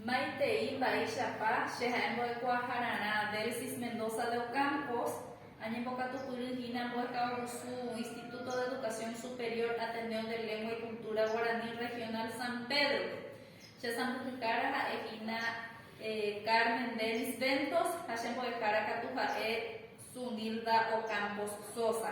Maitei mba'éichapa che ha'e mbo'ekuaahararã Delsis Mendoza de Ocampos, añembokatupyry hína mbo'ekagusu Instituto de Educación Superior Ateneo de Lengua y Cultura Guaraní Regional San Pedro-pe. Che sãmbyhyhára ha'e hína Carmen Dennis Ventos ha che mbo'ehára katu ha'e Zunilda Ocampos Sosa.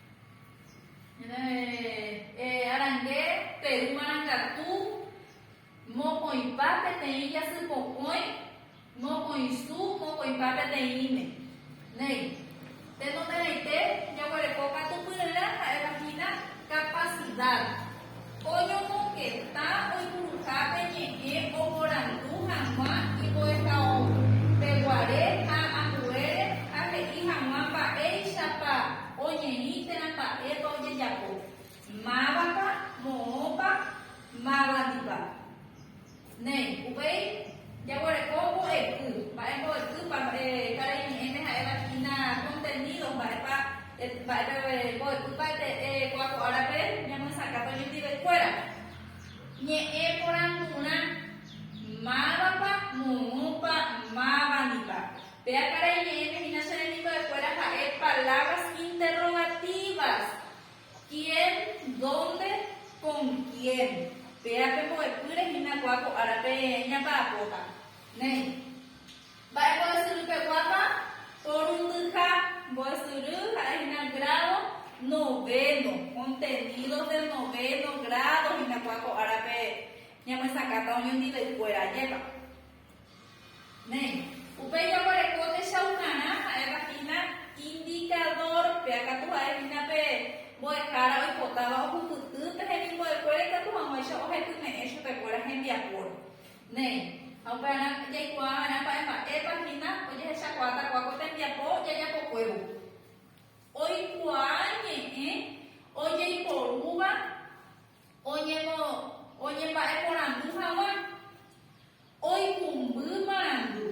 Arangue Peru marangatu mokõipa peteĩ jasypokõi mokõisu mokõipa peteĩme. Néi, tenonderãite jaguereko katu pyryrã ha'éva hína capacidad. Oñomongeta oipuruha pe ñe'ẽ oporandu hag̃ua imbo'ehaóvo pe guare ha ambuére ha he'i hag̃ua mba'éichapa oñeĩ térã mba'épa ojejapo, mávapa, moõpa, mávandipa. Néi, upéi jaguereko mbo'epy. Mba'e mbo'epýpa? Karai ñe'ẽme ha'éva hína contenidos, mba'épa, mba'épe mbo'epýpa ete'e ko'ã ko árape ñamyesakã toñetivekuéra. Ñe'ẽ porandurã, Mávapa, myrũpa, mávandipa. Péa karai ñe'ẽme hína che rembimbo'ekuéra ha'e palabras interrogativas. Quién, dónde, con quién. Péa pe mbo'epýre hína kua ko árape ñapa'apóta. Néi. Mba'e mbo'esyry peguápa? Porundyha mbo'esyry ha'e hína grádo novéno, contenidos del novéno grádo hína kua ko árape ñamyesakãta oñondive kuéra. Ajépa. Néi. Upéi jaguareko techaukarã ha'éva hína indikadór, péa katu ha'e hína pe mbo'ehára oipotáva ohupyty pe hemimbo'ekuéra ikatu hag̃uáicha ohepyme'ẽ chupekuéra hembiapóre. Néi. Ha upe ára jaikuaa va'erã mba'e mba'épa hína ojehechakuaatakua ko tembiapo jajapokuévo. Oikuaa ñe'ẽ ojeiporúva. Oñemba'eporandu hag̃ua, oikũmby marandu,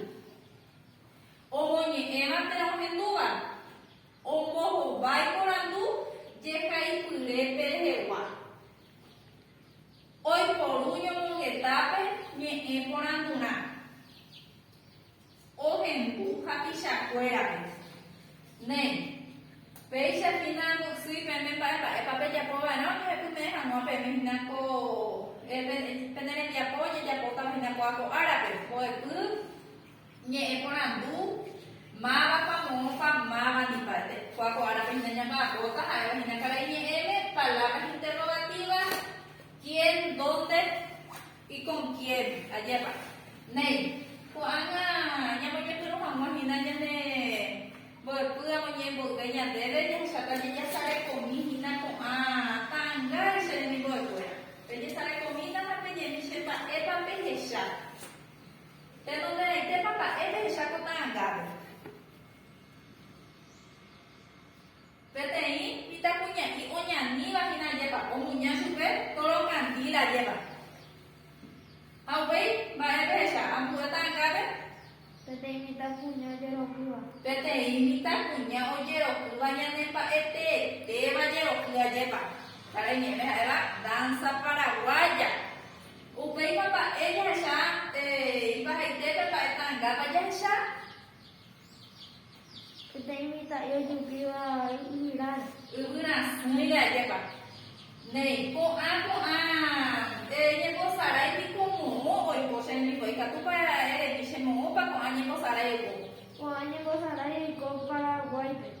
omoñe'ẽva térã ohendúva, ombohovái porandu jehaipyrépe rehegua, oiporu ñomongetápe ñe'ẽ porandurã. Ohendu hapichakuérape. Né, péicha hína ndo'ysýi peẽme mba'e mba'épa pejapo va'erã ojehepyme'ẽ hag̃ua peẽme hína ko pene rembiapo ojejapótava hína ko apo árape, mbo'epy, ñe'ẽ porandu, mávapa, moõpa, máva ni mba'eve. Ko apo árape hína ñamba'apóta ha'éva hína karai ñe'ẽme, palabras interrogativas, quién, dónde, Iconquieri, ajépa. Néi, ko'ág̃a ñamoñepyrũ hag̃ua hína ñane mbo'epy amoñe'ẽ mboyve ñandéve, jahecháta jajasarekomi hína ko'ã ta'ãngáre che remimbo'ekuéra. Pejesarekomína ha peñe'ẽmi che mba'épa pehecha. Tenonderãitépa mba'e pehecha ko ta'ãngápe. Peteĩ mitãkuña'i oñaníva hína ajépa omuña chupe tóro kandíl ajépa. Ha upéi, mba'e pehecha, ambuéta angave? Peteĩ mitãkuña ojerokýva. Peteĩ mitãkuña ojerokýva ñanemba'eteetéva jeroky ajépa. Karai ñe'ẽme ha'éva dánsa paraguáya. Upéipa mba'e jahecha, eh, ipahaite pe mba'e tangápa jahecha? Peteĩ mitã'i ojupíva yvyras. Yvyras, umíre ajépa. Néi, ko'ã, ko'ã, ere ñembosarai piko moõ oiko che rembiguái, ikatúpa eremi che moõpa ko'ã ñembosarai oiko? Ko'ã ñembosarai oiko Paraguáipe.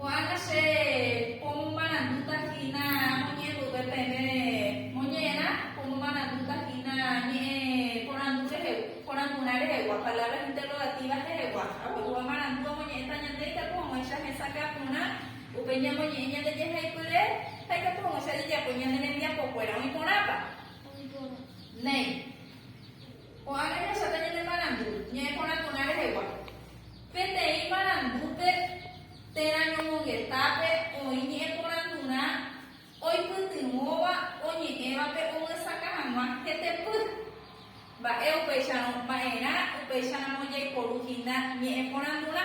Ko'ág̃a che pomomarandúta hína moñe'ẽmboyve peve moñe'ẽrã, pomomarandúta hína ñe'ẽ porandu rehegua, porandurã rehegua, palabras interrogativas rehegua. Aguahúva marandu omoñe'ẽta ñande ikatu hag̃uáicha hesakã porã, upe ñamoñe'ẽ ñande jehaipyre ha ikatu hag̃uáicha jejapói ñane rembiapokuéra. Oĩ porãpa? Néi. Ko'ág̃a ñahechape ñane marandu ñe'ẽ porã porã rehegua. Peteĩ marandúpe térã ñomongetápe oĩ ñe'ẽ porãturã oipytyvõva oñe'ẽvape omyesakã hag̃ua hetepy. Mba'e upéicharõ mba'erã upéicharamo jaiporu hína ñe'ẽ porãturã.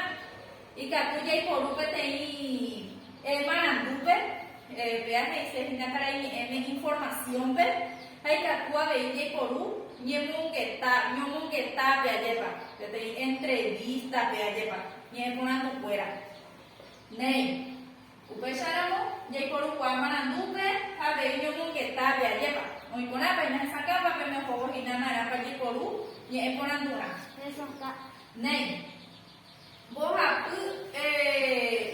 Ikatu jaiporu peteĩ e marandúpe, péa he'ise hína karai ñe'ẽme informasiónpe, ha ikatu avei jaiporu ñemongeta, ñomongetápe ajépa, peteĩ entrevístape ajépa, ñe'ẽporandukuéra. Néi, upéicharamo jaiporukuaa marandúpe ha avei ñomongetápe ajépa, oĩ porãpa, ñahesakãpa pene ohóvo hína narãpa jaiporu ñe'ẽporanduha. Néi. Mbohapy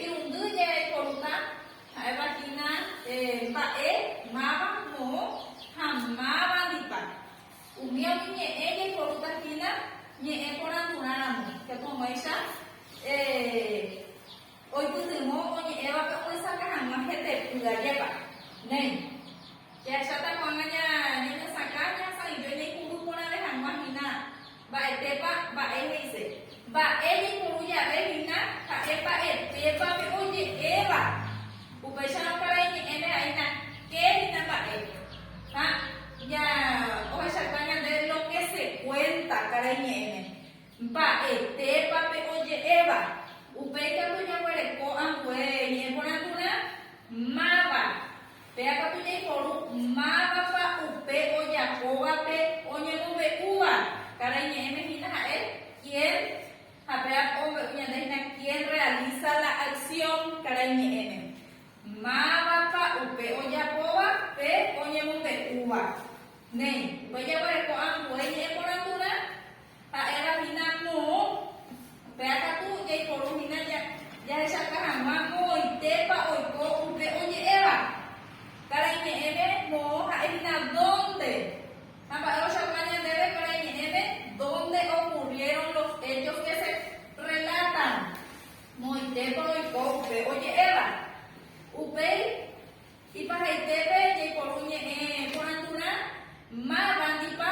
irundy jerekoruna ha'éva hína mba'e, máva, moõ ha mávandipa. Umi oñeñe'ẽ jekorúta hína ñe'ẽ porãturã ramo, hekoháicha Oipytyvõ oñe'ẽva oñesakã hag̃ua hepepy ajépa. Néi. Jahecháta ko'ág̃a ñañesakã ñasãive ñaipuru porãve hag̃ua hína mba'etépa mba'e he'ise. Mba'e jaipuru jave hína ha'e mba'etépa pe oje'éva. Upéicharõ karai ñe'ẽme vai nake hína mba'e. Ha ja ohechauka ñande lo ke se kuénta karai ñe'ẽme. Mba'etépa pe oje'éva? Upéi katu jaguereko ambue ñeporandu'rã, Máva? Péa katu jaiporu mávapa upe ojapóvape oñemombe'úva. Karai ñe'ẽme hína ha'e quién ha péa ombe'u ñande hína quién realiza la acción karai ñe'ẽme. Mávapa upe ojapóva pe oñemombe'úva? Néi. Upéi jaguereko ambue ñe'ẽporandu'rã, Ha'éva hína moõ, upéva katu jaiporu hína jahechauka hag̃ua moõitépa oiko upe oñe'ẽva. Karai ñe'ẽme moõ ha'e hína dónde. Ha mba'e ochauka ñandéve karai ñe'ẽme dónde okurriéron los héchos ke se rrelátan, moõitépa oiko upe oñe'ẽva. Upéi ipahaitépe jaiporu ñe'ẽ porãturã mávandipa.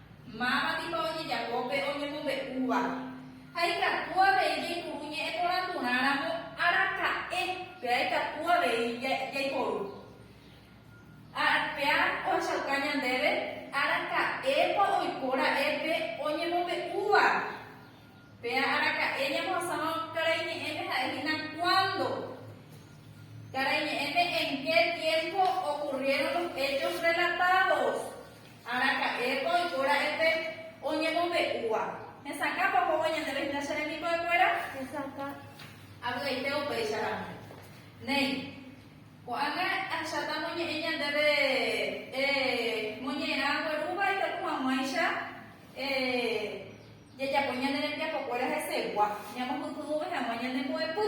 Máva piko ojejapo pe oñemombe'úva? Ha ikatu avei jaipuru ñe'ẽporãturãramo araka'e péa ikatu avei jaiporu. Péa ohechauka ñandéve araka'épa oiko ra'e pe oñemombe'úva. Péa araka'e ñambohasáva karai ñe'ẽme ha'e hína cuándo. Karai ñe'ẽme en qué tiempo ocurrieron los hechos relatados. Araka'épa oiko ra'épe oñemombe'úva? Hesakãpa ohóvo ñandéve hína che rembiguaikuéra? Hesakã. Avy'aite upéicha ramo. Néi. Ko'ág̃a ahecháta amoñe'ẽ ñandéve moñe'ẽrã guerúva ikatu hag̃uáicha jajapo ñane rembiapokuéra hesegua, ñamopytyvõve hag̃ua ñane mbo'epy.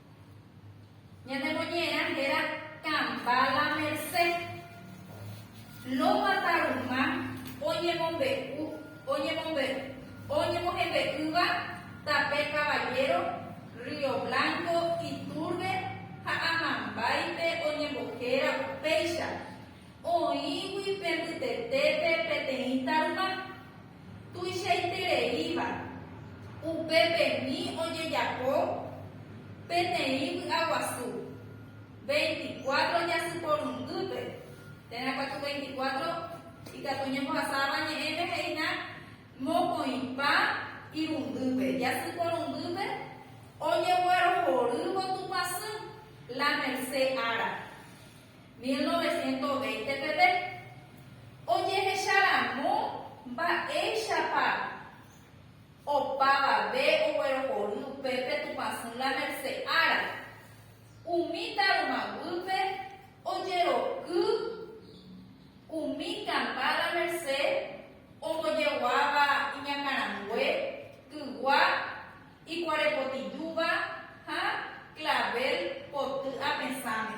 Ñanemoñe'ẽrã héra Kamba la Mercé. Loma Tarumã oñemombe'u, oñemombe'u, oñemohembe'ýva tape Caballero, Río Blanco, Iturbe ha Amambáipe oñembohéra upéicha. Oĩgui pe mbytetépe peteĩ tarma tuichaitereíva, upepemi ojejapo peteĩ vy'aguasu, veinticuatro jasy porundýpe, térã katu veinticuatro ikatu oñembohasáva ñe'ẽme he'ína mokõipa irundýpe, jasy porundýpe ojeguerohorývo Tupãsy, La Merced ára. Mil noveciento veinte peve, ojehecha ramo mba'éichapa opavave oguerohory upépe Tupãsỹ La Merced ára, umi táruma guýpe ojeroky umi Campá La Merced ombojeguáva iñakãrangue, kygua, Ikuare potijúva ha clavel poty apesãme.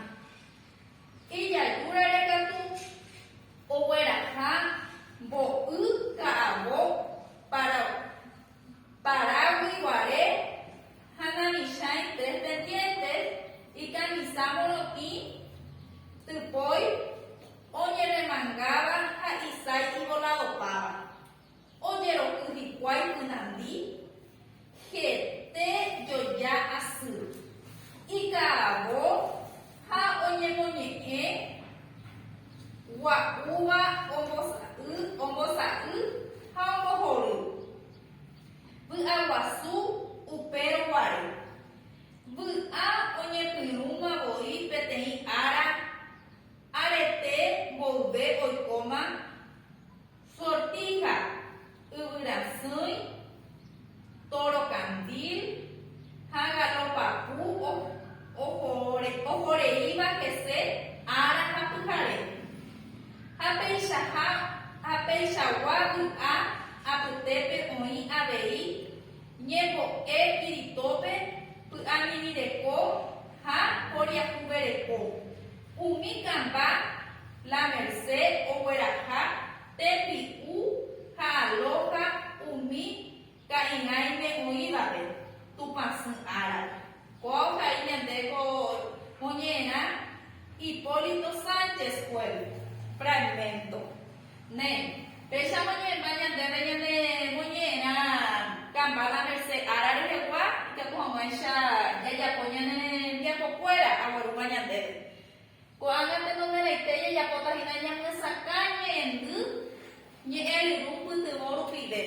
Ijaýrare katu ogueraha mbo'y ka'avo paragui guare ha namichãi tres pendientes ikamisa morotĩ typói oñeremangáva ha isái ivoladopáva. ojeroky hikuái ynandi hete joja asy, ika'avo ha oñemoñe'ẽ gua'úva ombosa'y ha ombohory, vy'aguasu upérõ guare, vy'a oñepyrũma voi peteĩ ára, arete mboyve oikóma. Sortija, yvyrasỹi, tóro kandíl ha galopapu ohoreíva hese ára ha pyhare. Ha peichaha ha peichagua vy'a apytépe oĩ avei ñembo'e piritópe py'amirĩreko ha poriahuvereko. Umi kamba La Merced ogueraha tembi'u ha alója umi ka'irãime oĩvape Tupãsy árape. Kóa ohai ñande ko moñe'ẽrã Hipólito Sánchez-Puello, fragmento. Ne, péichamo ñe'ẽmba ñandéve ñane moñe'ẽrã kamba la merse ára rehegua, ikatu hag̃uáicha jajapo ñane rembiapokuéra aguerúva ñandéve. Ko'ág̃a tenonderãite jajapóta hína ñamyesakã ñe'ẽndy ñe'ẽryru pytyvõ rupive.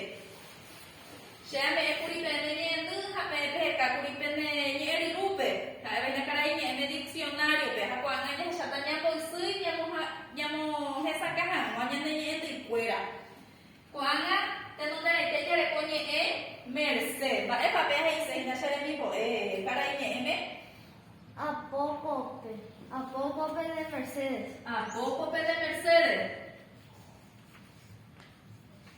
Che añe'ẽ kuri peẽme ñe'ẽndy ha peẽ peheta kuri pene ñe'ẽry'úpe, ha'éva ñakarai ñe'ẽme diksionáriope, ha ko'ág̃a jahecháta ñamboysýi ñamohesakã hag̃ua ñane ñe'ẽndyikuéra. Ko'ág̃a tenonderãite jareko ñe'ẽ merse. Mba'épa peẽ he'ise hína che remimbo'e karai ñe'ẽme? A pópope. A pópope de Mercedes. A pópope de Mercedes.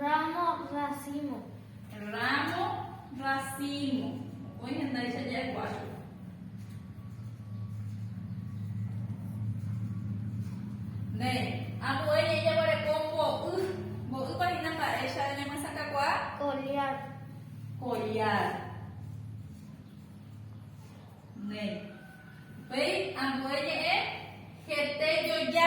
Ramo racimo. Ramo racimo. Oĩ hendáicha ja'ekuácho. Ne, ambuéi ñe'ẽ jaguareko mbo'y. Mbo'ýpa hína mba'éicha ñamyesakãkuaa? Collar. Collar. Ne. Upéi ambue ñe'ẽ hete joja.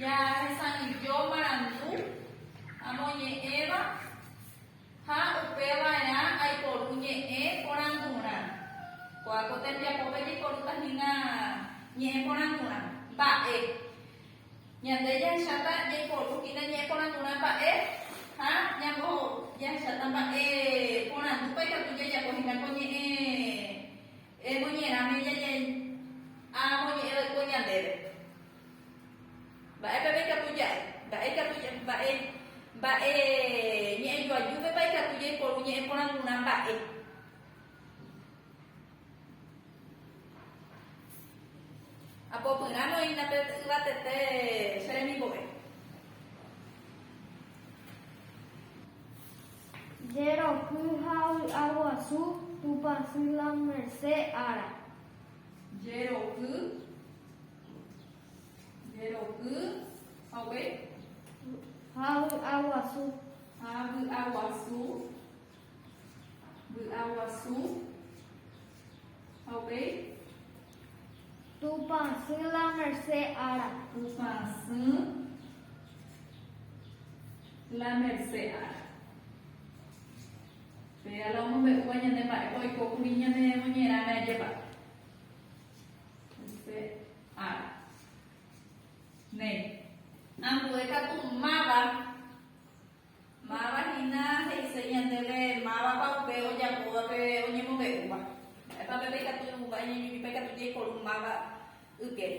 Jahesanillo marandu amoñe'ẽva ha upeva'erã aiporu ñe'ẽ porandurã. Ko'ã ko tembiapópe jaiporúta hína ñe'ẽ porandurã mba'e. Ñande jahecháta jaiporu hína ñe'ẽ porandurã mba'e ha ñambo jahecháta mba'e porandúpa ikatu jajapo hína ko ñe'ẽ emoñerãme amoñe'ẽ vaikue ñandéve. Mba'e peve ikatu ja'e? Mba'e ikatu ja'e? Mba'e, mba'e ñe'ẽ joajúvepa ikatu jaiporu ñe'ẽ porãgurã mba'e? Apopyrãme oĩna pe yvatete che remimbo'e. Jeroky ha vy'a guasu Tupãsy la merced ára. Jeroky Jeroky hague. Havy'aguasu. Havy'aguasu. Vy'aguasu hague. Tupãsy la merse ára. Tupãsy la merse ára. Péa la omombe'úva ñande mba'épa oikókuri ñane moñerãme ajépa. Che ára. Néi. Ambue katu máva, máva hína he'ise ñandéve mávapa upe ojapóva pe oñemombe'úva. Mba'épa pe pe ikatu vai ñañumipa ikatu jaiporu máva ykére.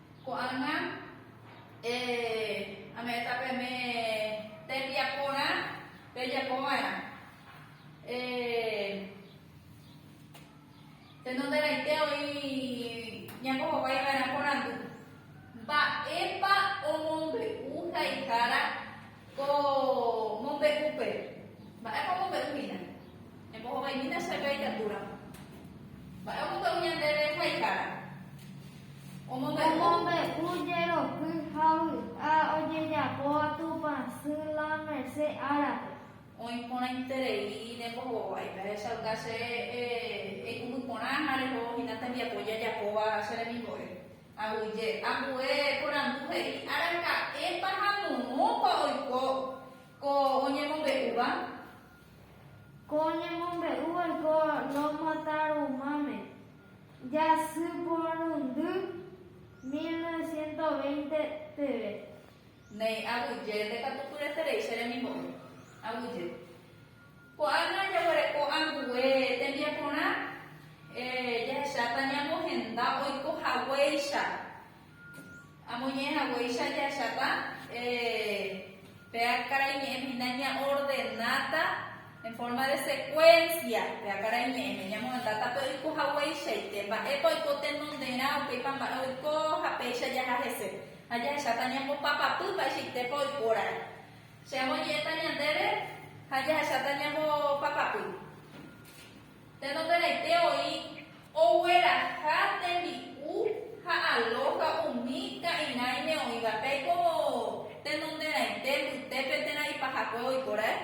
Ko'ág̃a ame'ẽta peẽme tembiaporã pejapo va'erã. Tenonderãite oĩ ñako hovái va'erã porandu, Mba'épa omombe'u haihára ko mombe'úpe? Mba'épa omombe'u hína? Embohovaimína chéve ikatúramo. Mba'e omombe'u ñandéve haihára? Omombe'u jeroky ha vy'a ojejapóva Tupã sy la merse árape. Oĩ porãiterei rembohovái. Ndahechauka che eikũmby porã ha reho hína tembiapo jajapóva che remimbo'e. Aguyje. Ambue porandu he'i araka'épa ha moõpa oiko ko oñemombe'úva. Ko ñemombe'u oiko Loma-Tarumãme, jasy porundy mil novecientos veinte peve. Néi, aguyje, nde katu pyeterei che remimbo'e. Aguyje. Ko'ág̃a jaguereko ambue tembiaporã, eh, jahecháta ñamohenda oiko haguéicha. Amoñe'ẽ haguéicha jahechata pe karai ñe'ẽ hína ñaordenáta en forma de secuencia pe karai ñe'ẽme, ñamohendáta pe oiko hagueichaite, mba'épa oiko tenonderã, upéipa mba'e oiko ha péicha jaha hese. Ha jahecháta ñambopapapy mba'eichaitépa oikórare. Che amoñe'ẽta ñandéve ha jahecháta ñambopapapy. Tenonderãite oĩ ogueraha tembi'u ha alója umi ka'irãime oĩvape ko tenonderãite mbytépe térã ipahakuévo iporãe?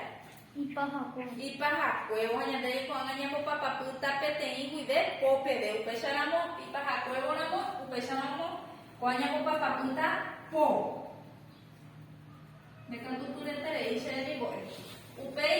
Ipahakuévo. Ipahakuévo ha ñande reikuaágã ñambopapapýta peteĩ guive po peve. Upécharamo ipahakuévo ramo, upécharamo ko'ã ñambopapapýta po. Ndekatupyreterei che remimbo'e. Upéi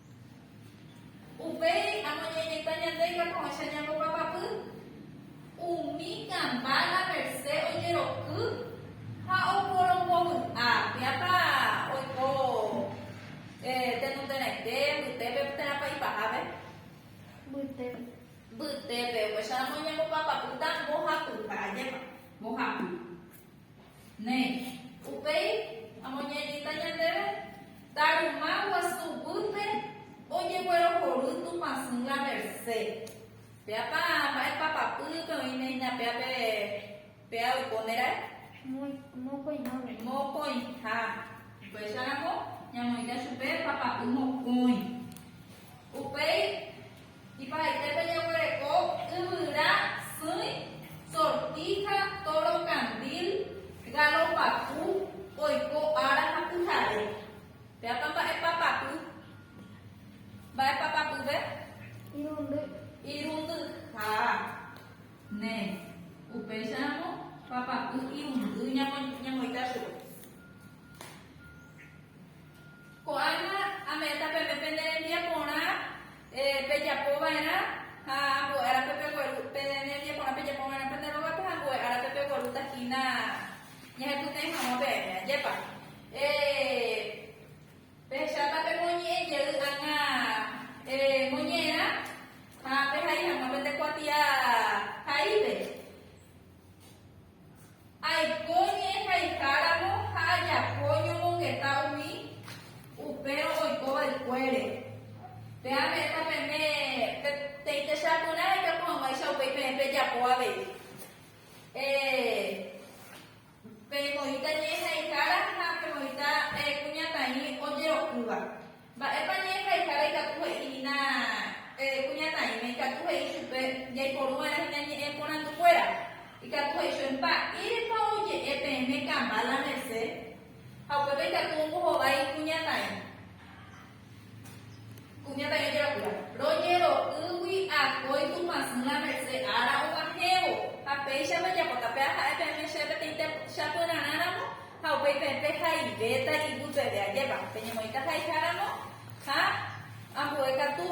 Upéi amoñeñeta ñande ikakuãicha ñambopapapy umi kamba la merse ojeroky ha oporombovy'a piápa oiko tenonderãite mbytépe térãpa ipahápe. Mbytépe. Mbytépe. Upéicharamo ñambopapapy tambohapy, mba'ajépa? Mbohapy. Néi. Upéi amoñe'ẽta ñandéve Taruma guasu guýpe ojeguerohory Tupãsy la mercé. Péapa mba'épa papýpe oiméhina péa pe péa oiko ne rae? Mokõiháme. Mokõiha. Upéicharamo ñamoĩta chupe papapy mokõi. Upéi. Iparaítépe jaguereko yvyra, sỹi, sortíja, tóro kandíl, gálo papu, oiko ára ha pyhare. Péapa mba'épa papu? Mba'épa papyve? Irundy. Irundyha. Nde. Upéicharamo papapy irundy ñamoita chupe. Ko'ág̃a ame'ẽta peve pende rembiaporã pejapo va'erã ha ambue árape pegueru, pende rembiaporã pejapo va'erã pende rógape ha ambue árape peguerúta hína ñahepytẽ hag̃ua peẽme. Ajépa pehecháta pemoñe'ẽ jey ág̃a moñe'ẽrã ha pehai hag̃ua pende kuatia haípe? Aiko ñe'ẽ haiháramo ha ajapo ñomongeta umi upérõ oiko va'ekuére. Pe ame'ẽta peme pe teitecha porã ejapo hag̃uáicha upéi peẽ pejapo avei. Pemoĩta ñe'ẽ haihára ha pemoĩta kuñataĩ ojerokýva. Mba'épa ñe'ẽ haihára ikatu he'i hína kuñataĩme, ikatu he'i chupe jaiporu va'erã hína ñe'ẽ porandukuéra, ikatu he'i chupe, Mba'érepa oje'e peẽme kamba la mese? Ha upépe ikatu ombohovái kuñataĩ. Kuñataĩ ojerokýva, Rojero'ýgui akói Tupãsy la mese ára og̃uahẽvo, ha péichapa japota peaha'e peẽme chéve peteĩ sapyrarãramo Ha upeipe'ẽpe haivéta ipy peve ajépa, peñemoĩta ha'eháramo, ha ambue katu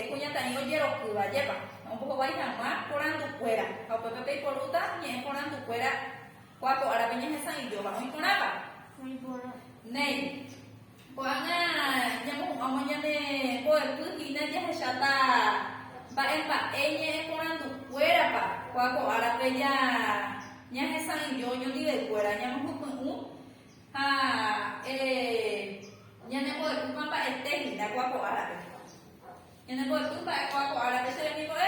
kuñataĩ ojerokýva ajépa, ombohovái hag̃ua porandukuéra, ha upépe peiporúta ñe'ẽ porandukuéra kuaapo'árape ñehesa'ỹijóva. Oĩ porãpa? Néi. Ko'ág̃a ñamohu'ãvo ñane mbo'epy hína jahecháta mba'e mba'e ñe'ẽ porandu kuérapa, ko'a ko árape ja ñahesa'ỹijo oñondive kuéra ñamohypy'ũ ha ere ñane mbo'epýpa mba'ete hína ko'a ko árape. Ñane mbo'epy mba'e ko'a ko árape che remimbo'e.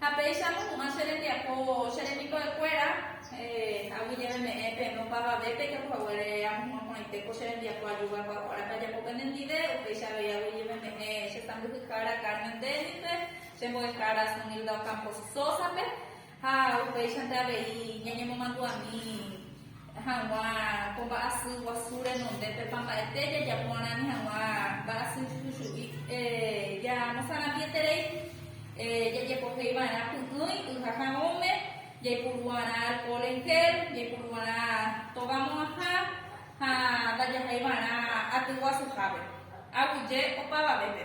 Ha péicha amohu'ã che rembiapo che rembiko'ekuéra, agui jeve me'ẽ peẽme opavavépe japo haguére amohu'ã porãite ko che rembiapo ajúva kuakuárape ajapo pende ndive, upéicha avei agui jeve me'ẽ che sãmbyhyhára Carmen Dennispe, che mbo'ehára Sunilda Ocampo Sosa-pe, ha upéichante avei ñañemomandu'ami. hag̃ua ko mba'asy guasu renonde pepa mba'ete jajapo'arãmi hag̃ua mba'asy juju'i ñamosarambieterei jajepohéi va'erã py'ỹi yha ha ome, jaipuru'arã alcohol en gel, jaipuru'arã tóva mo'ãha ha ndajahai va'erã aty guasuhápe, aguyje opavavépe.